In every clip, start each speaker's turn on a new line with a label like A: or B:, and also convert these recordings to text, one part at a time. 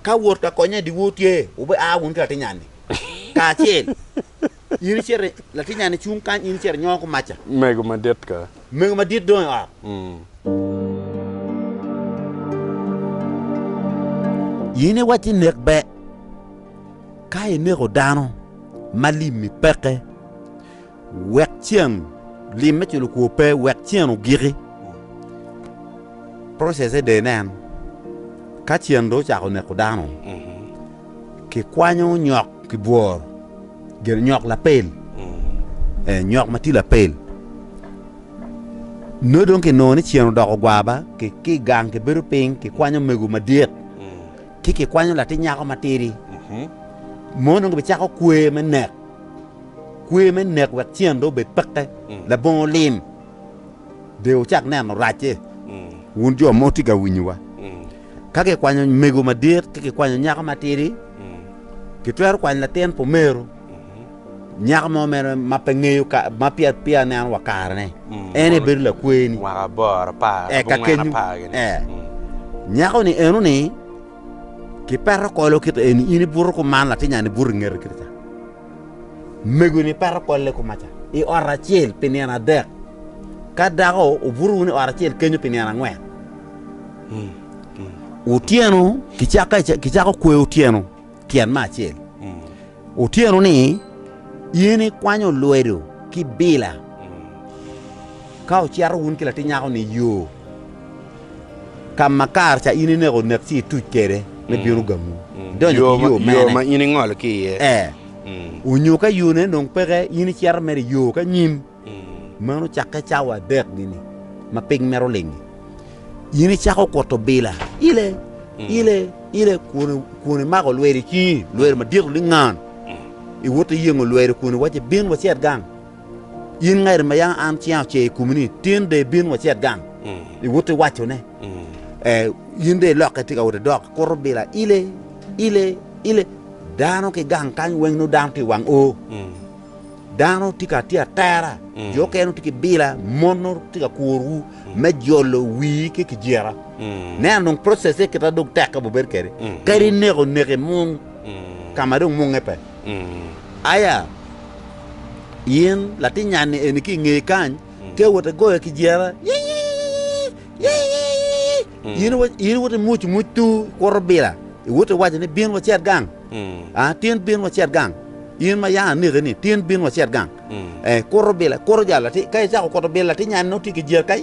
A: Ka Wod ka konye adiwo tye, wubia wunu ki latinyan-ni kacel. In icito, latinyan-ni cung kany, in icito inyongo kumaca. Mego madit ka.
B: Mego madit dong i
A: ot. In iwacci nek ber ka ineko dano ma limmi peke, Wek cen, lim me culo kwor pe wek cen ogiki. Process-e dong inen, ka cen dong ocako neko dano, kikwanyo nyok ki bwor, gin nyok lapel, ee, nyok ma tye lapel. Nongo dong kinongo ni cen odoko gwaba, ki, ki i gang kibedo piny, kikwanyo omego madit, ci kikwanyo latin nyako matidi, mono dong kibicako kwer me nek. Kwer me nek wek cente obed peke labongo olim dong wucak neno racce. Wun jo ma wutye ka winyowa, ka kikwanyo mego madit ki kikwanyo nyako matidi, kitwero kwanyo latin pa omero, nyako mo mere ma pe ngeyo ka, ma peya neno wa karene, en aye bedo lakwerni. Mwaka aboro, apar, Eka
B: abongwen, kenyu, apar gini.
A: eh, Mm. nyako-ni eno-ni kipeto kolo kit eni, in ibuto kuman, latinya-ni buto ingete kit ca. Mego-ni peto polle kumaca i ot acel pi nino adek, ka dako obuto wunu i ot acel kenyo pi nino angwen. Otyeno kicako kweyo otyeno tyen me acel. Otyeno-ni in ikwanyo lwedo ki bila ka wucito wun ki latin nyako-ni i yo. Ka ma kare ca in ineko onek ci ituc kwede me bino gamu, idonyo ki yo
B: mene? Yo ma in ingolo ki iye. Ee. Onyo
A: ka yone dong peke, in icito mere iyo ki anyim. Meno cakke cawa adek-gini ma piny mito ling-ngi, in icako kuto bila ile, ile, ile kun, kun imako lwedo icingi, lwedo madito lingan, iwoto iyengo lwedo kun iwacce, Bin wacit gang. In ngati ma yam an ceng ocer i komi ni, tin dong ibin wacit gang, iwot iwacone, eh, in dong ilokke tika wot idok, kuto bila ile, ile, ile. Dano ki gang kany weng nongo dano tye i wang oo, dano tye ka tye atera, jo okene nongo tye ki bila, mon nongo tye ka kurowu me jolo wii ki kijira. Neno dong process-e kita dong tek ka bubed kede, kadi ineko oneki mung ka ma dong munge pe. Aya, in latin nyan-ni eni ki i ngeye kany, tye wot igoyo ki jera, in wot imuc muc tur ikwoto obila, iwot iwaco ni, 'Bin wacit gang, tin bin wacit gang, in ma yam aneki-ni, tin bin wacit gang. Kwoto obila, ikwoto jalo. Ka icako kwoto obila, latin nyan-ni nongo tye ki jer kany.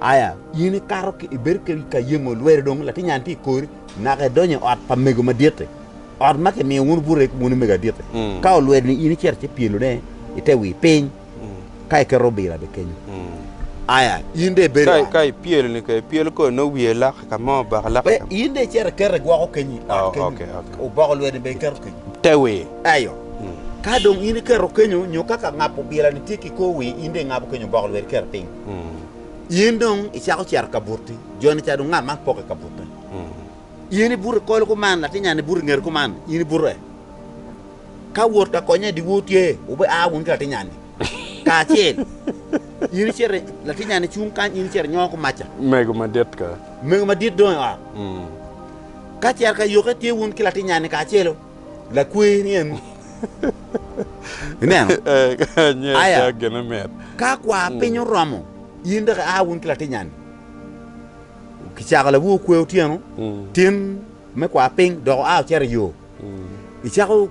A: Aya, in ikato ki, ibedo ki ka yengo lwere dong, latinyan tye i kori, naka idonyo i ot pa mego madit-ti, ot ma kimiyo wun obute ki wun omego adit-ti. Ka olwedoni, in icito ci ipyelone i te wir piny, ka iketo obila bene kenyo. Aya, in dong ibedo i ot. Ka ipyeloni kede,
B: ipyelo kore nongo wiye lak i ka mo, obako i lak i ka mo. Pe, in dong icito ikete
A: gwoko kenyo i ot kenyo,
B: oboko lwedoni
A: bene iketo kenyo. Te wir. Eyo. Ka dong in iketo kenyo, nyo ka ka ngap obila-ni tye ki kor wir, in dong ingabo kenyo, oboko lwedi iketo piny. In dong icako cito ka butti, joni ca dong ngat man poko i ka butte. In ibuto i kolo kuman, latinnyani ibuto i ngete kuman, in ibutoe. Ka wot ka konye diwor tye, wubia wun ki latinnyani kacel. In icito, latinnyani cung kany, in icito inyongo kumaca. Mego madit ka.
B: Mego madit dong i ot.
A: Ka cito ka yokke tye wun ki latinnyani kacelo. Lakwer en. Ineno? Aya,
B: ka kwar piny
A: oromo, in dok ia wun ki latinyan-ni. Kicako labwor okwer otyeno, tin me kwar piny dok oa ocito i yo. Icako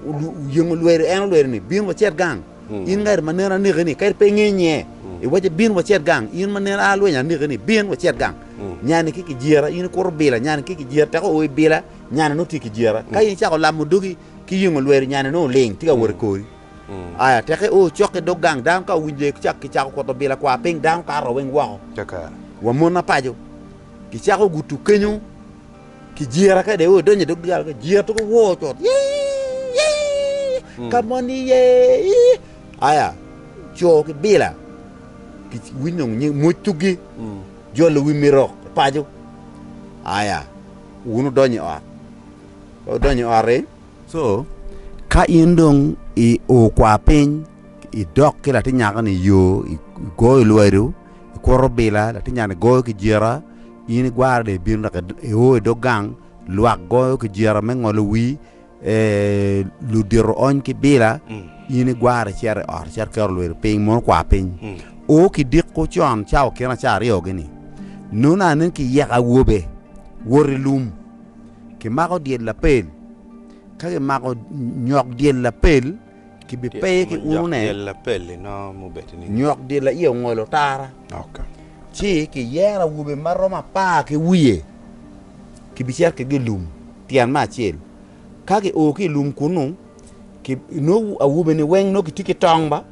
A: yengo lweri, en olweri ni, Bin wacit gang. In ngati ma nene aneki-ni, ka pe ingeyo nyiye, iwacce, Bin wacit gang. In ma nene alwenyo aneki-ni, bin wacit gang. Nya-ni kik ijira, in ikuro bila, nya-ni kik ijira, teko o ibila, Nyane nongo tye ki jera. Ka in icako lamo dogi ki yengo lweri, nyane nongo oling, tye ka wot i kori. Aya, teke oo cok ki dog gang, dano ka owinje kicako koto bilo akwar piny, dano kato weng woko. Wa mon
B: mapaco
A: gicako guto kenyo ki jera, ka dong oo idonyo i dog dyekal kany, jera tuko woo cut, Yii, yii, ka mon iye, yii. Aya, co ki bila giwinyo moc tuggi, jolo wi mirok paco. Aya. wun wudonyo i ot. Ka wudonyo i ot-ti, co ka in dong io kwar piny, idok ki latin nyako-ni i yo, igoyo lwadu, ikwoto obila, latin nyako-ni goyo kijira, in igwaro dong ibino dok io i dog gang, lwak goyo kijira me ngolo wii. Ee, ludito ony ki bila, in igwaro icito i ot, icito iketo lwelo piny, mono kwa piny. O ki diko con cawa kina ca aryo-gi ni, nongo anen ki yek awobe wot i lum, kimako dyel lapel. Ka kimako nyok dyel lapel, Kibipeye ki unu
B: ne, nyok dyel a iye ongolo
A: tara,
B: ci kiyero
A: awobe ma romo apar ki wiye, kibicito kwedgi i lum tyen me acel. Ka gio ki i lum kunnu, nongo awobeni weng nongo gitye ki tong ba,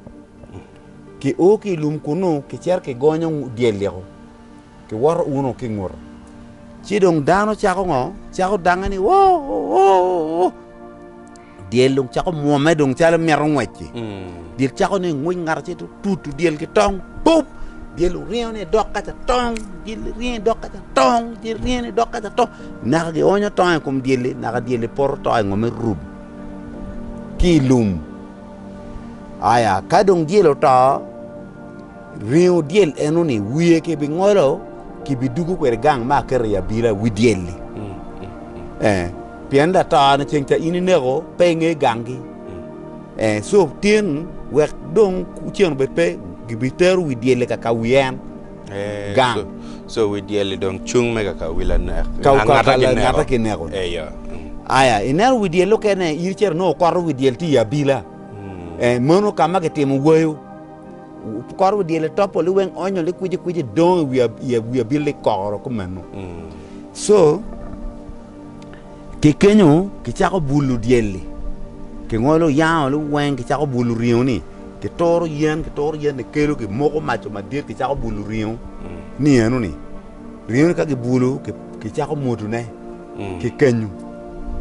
A: kio ki i lum kunnu kicito kigonyo dyel leko, kiwoto unu ki ngut. Ci dong dano cako ngo? Cako dange ni, Woo! Dyel dong cako mwomme dong calo mito ngwec-ci. Dyel cako ni ngwec ngat acel tutu dyel ki tong pup dyel oringo ni dok kaca tong dyel ringo i dok kaca tong dyel ringo ni dok kaca tong naka gionyo tong i kom dyel-li naka dyel-li poto to i ngome rub ki i lum. Aya ka dong dyel oto Ringo dyel eno-ni wiye kibingolo, kibidugo kwede gang ma aketo iye abila, wi dyel-li. Ee, pien latone ceng ca in ineko pe inge ganggi. Ee, ci otin wek dong ocen obed pe, gibitero wi dyel-li ka ka wi en Ee, gang. so, so wi
B: dyel-li dong cung me ka ka wi lanek, Ka- ka- angata ka kineko. langata
A: kineko. Ee, ya. Mm.
B: Aya, ineno
A: wi dyel-li okene, iri cere nongo okoto wi dyel tye i abila. Ee, meno ka ma kitimo wayo. Kor widyel litoppo li weng onyo li kwici kwici dong i wi abil li koro kumeno. So ki kenyo ki cako bulu dyel li ki ngolo yango li weng ki cako bulu ringo ni ki turo yen ki turo yen ni kelo ki moko maco madit ki cako bulu ringo ni eno ni ringo ni ka ki bulu ki cako motone. ki kenyu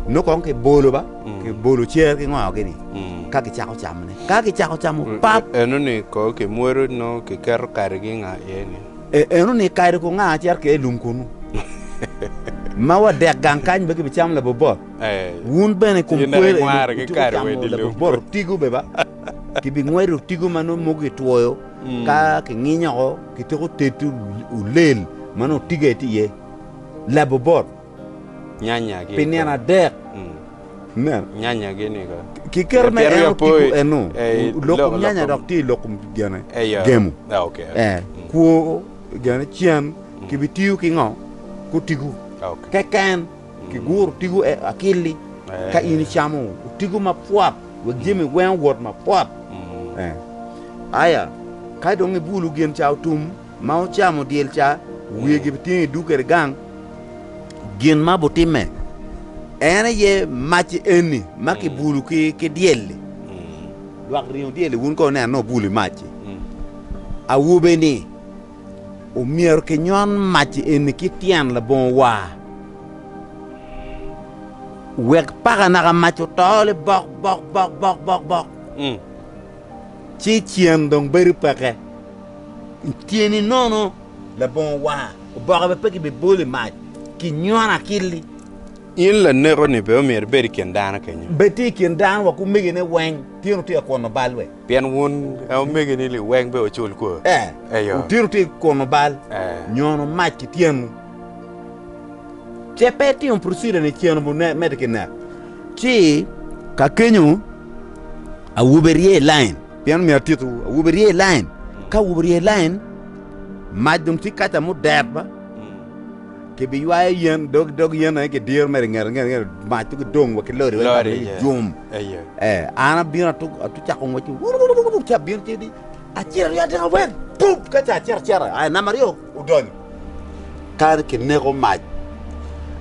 A: no kong ki bolo ba ki bolo cer ki ngo gini ka ki cako camo ne ka ki cako camo pap eno ni ko ki
B: mwodo no ki keto kare gi nga iye ni eno ni kare
A: ko nga cer ke lung kunu ma wa dek gang kany be ki bi cam la bobor wun bene kum kwer eno ki kare we di
B: lung bobor tigo be ba
A: ki bi ngwedo tigo ma no mogi twoyo ka ki nginyo ko ki toko tetu ulel ma no tigo eti iye labobot
B: pi nino adek. Kiketo ma en otiko
A: eno loko nyanya dok tye i loko gene gemo
B: kwo
A: gene cen kibitiyo ki ngo kutigo keken kiguro tigo akili ka in icamo otigo mapwot wek jami weng owot mapwot aya ka dong ibulu gin ca otum. ma wucamo dyel ca, wiye gibitingo i duker gang. Gin ma butimme en aye mac enni ma kibulo ki dyel-li, dok ringo dyel-li wun kono ni anongo obulo i mac-ci. Awobe-ni omyero kinyon mac enni ki tyen labongo wa, wek paka naka mac otole bok bok bok bok bok bok. Ci cen dong bedo peke i tyeni nono labongo wa, oboke bene pe kibibolo i mac, kinywano akil-li. In
B: laneko-ni pe omyero ibed i kin dano kenyo. Bed tye i kin dano wa
A: ki omegine weng, tyen otye ka kwono bal we? Pien wun
B: e omegini-ni weng be wucul kwo? Ee, otyen otye
A: ka kwono bal, nyono mac ki tyenwu. Ce pe itimo purucida ni cen obin mede ki nek. Ci ka kenyo awobe rye i lain, pien omyero atitwu, awobe rye i lain. Ka awobe rye i lain, mac dong tye kaca muder ba, kibiywayo yen dog dog yen aye kidiro mere ingete ingete ingete mac to kidong wa ki lodi wek Lodi, yeah. jum. Aye. Eh, an abino atu atucako ngwec wururururu ci abino ci di aciro ryo adek angwen tup kaca acito acita. Ai namba aryo odonyo. Kare kineko mac,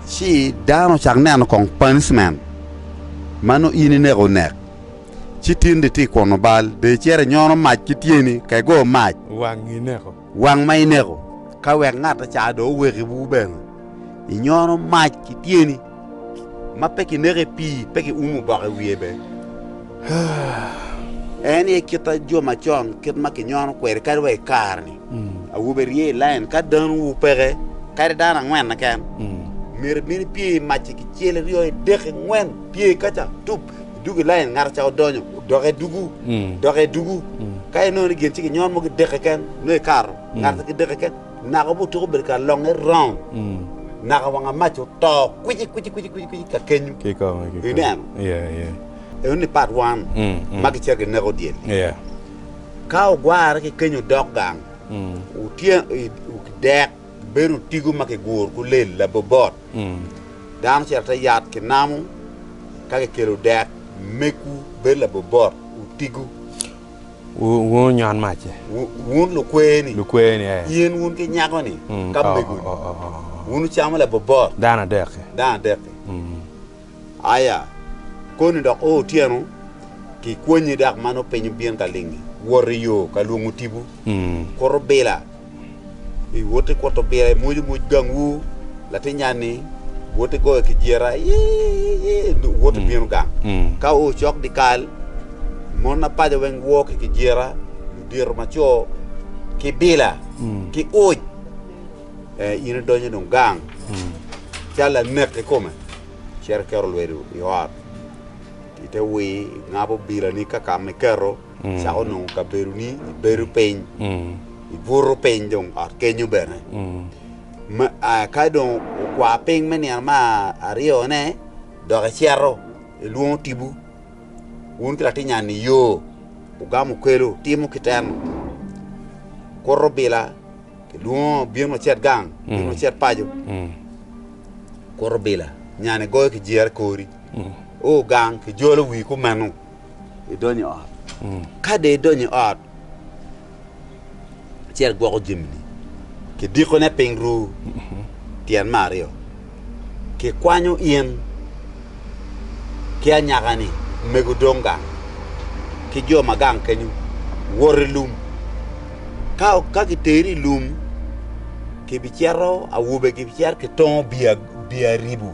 A: ci dano ocak neno kong punishment ma nongo in ineko nek, ci tinde itye kwono bal, de icito inyono mac ki tyeni ka igo mac wang ma ineko, ka wek ngat acaca dong oweki bur bene, inyono mac ki tyeni. ma pe kineko i pii, pe kiumo obok i wiye bene. En aye kit ma jo macon kit ma kinyono kwede kadi wa i kare-ni, awobe irye i lain ka danowu peke, kadi dano angwen keken. Myero ibin ipye i mac-ci kicel, iryo, idek, ingwen, pye kaca tup, idug i lain, ngata ca odonyo, dok idugu, dok idugu. Ka ineno ni gin ci kinyono mo ki dek keken, nongo ikato, ngata ki dek keken. Naka obut tuko obedo ka longe rong, naka wanga mac oto kwici kwici kwici kwici kwici ka kenyo. Kikome, kikome. Ineno?
C: Yeah, yeah. Eno ni part
A: one Mm, mm. ma gicito gineko dyel. Yeah.
C: Ka
A: ogwarre ki kenyo dok gang, Mm, otye i- i- dek bedo otigo ma kiguro ku lel labobot. mm. Dano cito te yat ki namo ka kikelo dek megu bedo labobot otigo.
C: Wun onyon mac-ci. Wun lukwer-ni.
A: Lukwer-ni, ee. In wun ki nyako-ni, ka megoni. Wun wucamo labobot. Dano adek-ki. Dano
C: adek-ki.
A: Aya, koni dok o otyeno, kikwonyi dok man opiny obin ka ling-ngi. Wot i yo ka lwongo tipo. Kut obila. I woti kuto pira i muc omuc gangwu, latin nyan-ni woti goyo ki jira, yii-yii-yii, woti bino gang. Ka ocok dyekal, mon apaja weng woo ki kijira, ludito maco ki bila ki uc, eh, in idonyo dong gang calo lanek kikome, cito iketo lwedi i ot, ite wir ingabo bilani kaka amme keto. Cako nongo kabedoni ibedo piny, ibuto piny dong ot kenyo bene. Ma, a, ka dong okwa piny me nino me aryone, dok icito ilwongo tibu, wun ki latinyanni iyo, wugamo kelu, timo kiten, kuto obila, kilwongo bino macet gang, bino macet paco, kuto obila, nyanni goyo kijira i kori, o gang kijolo wii kumeno. idonyo i ot, ka dong idonyo i ot acel gwoko jamini kidikone piny ru tyen me aryo kikwanyo in ki anyaka-ni omego dong gang ki jo ma gang kenyo wot i lum ka kiteri i lum kibicito awobe gibicito kitongo bii aribu.